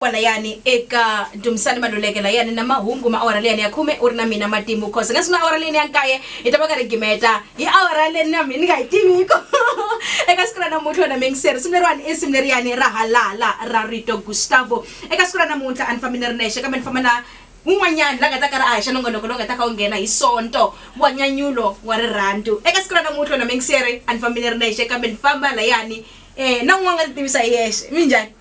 Kwalayani eka Dumisani Maluleke layani na mahungu ma awara liyani ya khume, U ri na mina matimu cause hi nga sungula awara leyini ya nkaye hi ta va karhi hi gimeta hi awara leyi na mina ni nga yi tiviki eka siku ra namuntlha wena miyingiseri risimu leriwani i risimu leriyani ra Halala ra Rito Gustavo eka siku ra namuntlha a ni fambi ni ri nexe kambe ni famba na un'wanyani la nga ta karhi a haxa nongonoko lowu nga ta kha wu nghena hi Sonto wa nyanyulo wa rirhandzu eka siku ra namuntlha wena miyingiseri a ni fambi ni ri nexe kambe ni famba layani na un'wana u nga ti tivisa hi yexe minjhani.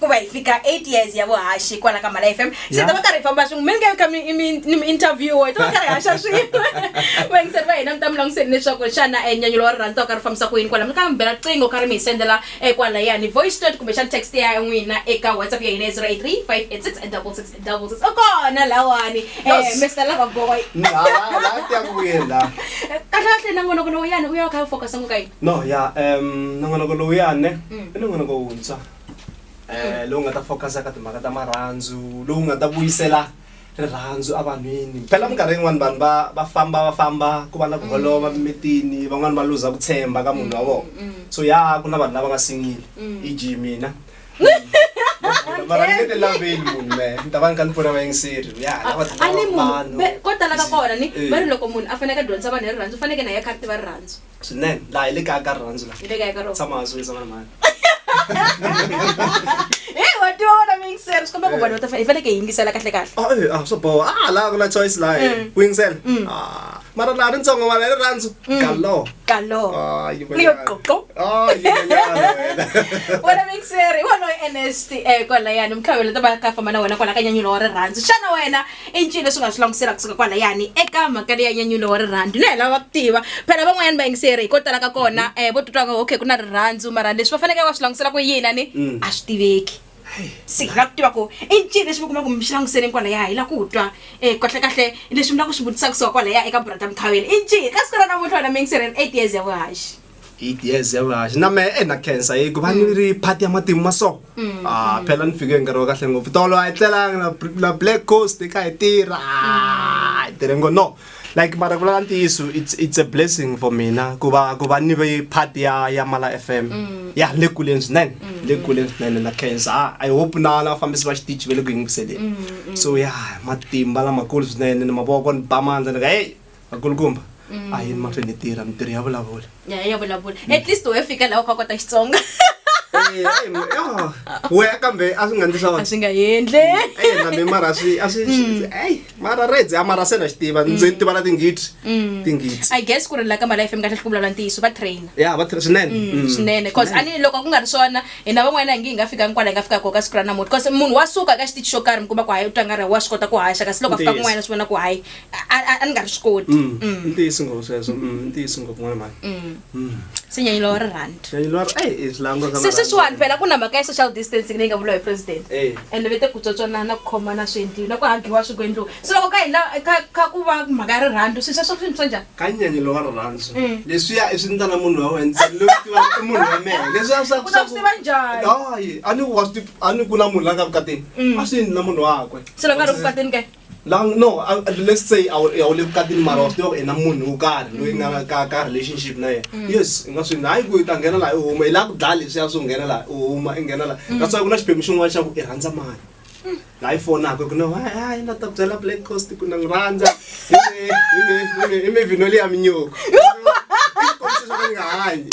ku va hi fika 8 years ya vuhaxi kwala ka mala fm se Ya. ta va karhi hi famba swin'we mi nga ka mi- mi- ni mi interview hi ta va karhi hi haxa swin'we vayingiseri va hina mi ta mi langutiseni leswaku xana eh, nyanyulo wa rirhandza u karhi u fambisa ku yini kwala mi ka mi bela riqingho karhi mi hi sendela eh, kwala yani voice note kumbexana text ya n'wina eka whatsapp ya hina ya 083 586 6666 u kona lawani eh, Yes. mr lava boy laatiyakuyela kahlekahle nangonoko lowuyani u ya kha u focus ngokayini no ya um nongonoko lowuyane Mm. i nongonoko wuntshwa eh lowu nga ta focus ka timhaka ta marhandzu lowu nga ta vuyisela rirhandzu evanhwini phela minkarhi yin'wani vanhu va va famba va famba ku va na ku holova mimitini van'wani va luza ku tshemba ka munhu wa vona so ya ku na vanhu lava nga singile i g mina mara ni nge ti laveli munhu me ni ta va ni ka ni pfuna vayingiseri ya lava a ni munhu vanhu be- ko tala ka kona ni Eh. va ri loko munhu a faneke a dyondzisa vanhu hi rirhandzu u faneke na ye a kha a ri tiva rirhandzu swinene laha hi le kaya ka rirhandzu laha Hi le kaya ka rona. tshama hansi u yisa vana mhani Hey, wa tiva wena mi yingisela swi komba ku vanhu va ta fa- hi faneke hi yingisela kahle kahle Ah, eh, ah, swo boha ah laha ku na choice laha eh. Mm. ku yingisela Mm. Ah, mara laha ri ntsongo mara hi rirhandzu Mm. kalo kalo Ah, yi Rio manyana. Qoqo. Ah, yi manyana wena. wena mixeri hi wona u nst um kwalayani mukhavelo ta va ka famba na wena kwala ka nyanyulo wa rirhandzu xana wena I ncini leswi nga swi langutisela kusuka kwalayani eka mhaka leyi ya nyanyulo wa rirhandzu? Na hi lava ku tiva. Phela van'wanyana vayingiseri hi ko tala ka kona eh vo titwa nga okay ku na rirhandzu mara leswi va fanekele va swi langutisela ku yini a ni a swi tiveki. Se hi lava ku tiva ku i ncini lexi mi kuma ku mi xi languseleni kwalaya hi lava ku twa eh kahlekahle leswi mi lava ku swi vutisa kusuka kwalaya eka brother Mkhaweli i ncini ka siku ra namuntlha wena muyingiseri eight years ya vuhaxi. eight years ya vulaha xi na mehe e na cancer yi ku va ni ri party ya matimu ma so a phela ni fike hi nkarhi wa kahle ngopfu tolo a yi tlelanga na br- na black coast yi kha hi tirha Ah, hi tirhe ngo no like mara ku lava ntiyiso it's, it's a blessing for mina ku va ku va ni ve party ya ya mala f m ya le kuleni swinene le kuleni swinene na cancer Ah, i hope na na vafambisi va xitichi va le ku yingiseleni so ya matimba lamakulu swinene ni mavoko ni ba mandla ni ka heyi vakulukumba a yini mahlweni ni tirha mitirho ya vulavula ya ya vulavula at least we fika laha u kha kota xitsonga Eh, ai, ma- ah, we kambe a swi nga ndli swona a swi nga endle Eh, na mina mara swi a swi swi- ai mara redzi a mara se na xi tiva ndzi tiva na tingidi tingidi i guess ku ri la ka mali fm kahle ku vulavula ntiyiso va trainer ya va tirha swinene Mm. swinene bcause ani loko ku nga ri swona hina van'wana hi nge hi nga fikangi kwala hi nga fika koka siku ra namuti bcause munhu wa suka ka xitichi xo karhi mi kuma ku hayi u twa nga ri wa swi kota ku haxa kasi loko a fika Ntiyiso. kun'wana swi vona ku hayi a ni nga ri swi koti mm. Mm. ntiyisi ngopfu sweswo mm, ntiyisi ngopfu n'wana mhani se nyanyilo wa rirhandse sweswiwani phela ku na mhaka ya social distancing leyi nga vuriwa hi president eh. ende ve te ku tswatswanana ku khomana swi endliwi na ku hagiwa swi ku endliwi se loko ka hina ka ku va mhaka ya rirhandzu swi sweswo swini swa njhani ka nyanyilo wa rirhandzu leswiya i swi ndlana munhu wa wena loyi tiva i munhu wa mehe leswiya swa swi tiva njhani hayi a ni wa swi a ni ku na munhu la nga vukatini a swi endli na munhu wakwe se loko a ri vukatini ke Lang no, uh, let's say a wu le vukatini mara wa swi tiva ku i na munhu wo karhi loyi nga na ka ka relationship na yena mm. yes i nga swi hayi ku i ta nghena laha i huma i lava ku dlaya leswiya swo nghena laha i huma i nghena laha mm. that's why ku na xiphemu xin'wana xa ku i rhandza mali mm. laha i fonaka ku no hayi na ta byela black coast ku na n'wi rhandza i mivhino leyi ya minyoko i kombisa swa ku ni nga hanyi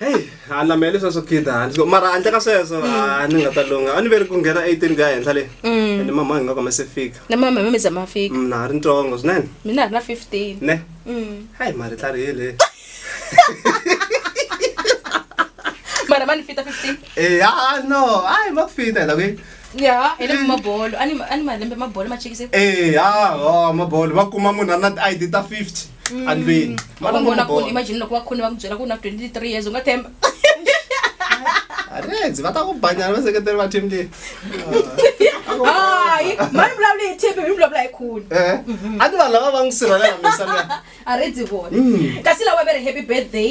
heyi a na mehe leswiya swo khida handle ko mara handle ka sweswo a ni nga ta lungha a ni veri ku nghena eighteen ku ya henhla le Mm. ende mama hi nga kome se fika na mama hi mameza ma fika Mm, na ha ri ntsongo swinene mina a ri na fifteen ne Mm. hayi mari tlarihile mara ma ni fita fifteen eya Eh, no hayi ma ku fita hi ta kwi ya hi le mabolo a ni a ni malembe mabolo ma chekise eya o mabolo va kuma munhu a ri na ti-id ta fifty Mm. andlwini Ma va vona ku bola. imagine loko va khoni va ku byela ku na 23 years u nga themba Arendzi, va ta ku banyana vaseketeri va team leyi hayi mani vulavula hi tip mi vulavula hi khuni Eh, a ni vanhu lava va n'wi sirhelela misa luya aredzi vona Mm. kasi lawa ve ri happy birthday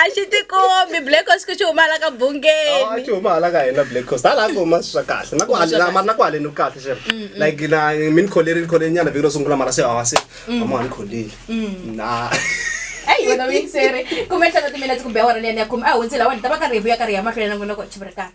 a xi tikombi black cost ku xi huma hala ka a bungeni xi huma hala ka hina black cost hala ku huma swi swa kahle na ku Huma swa halena mara na ku haleni ku kahle xer like na mi ni kholerile kholerile nyana vhiki ro sungula mara se hava se amani kholeli na eyi wena vuyingiseri kumbe nhlana timinetse kumbe awara liyani ya khume a hundzile awani ta va karhi hi vuya karhi hi ya mahlweni na n'wina ku chivirikani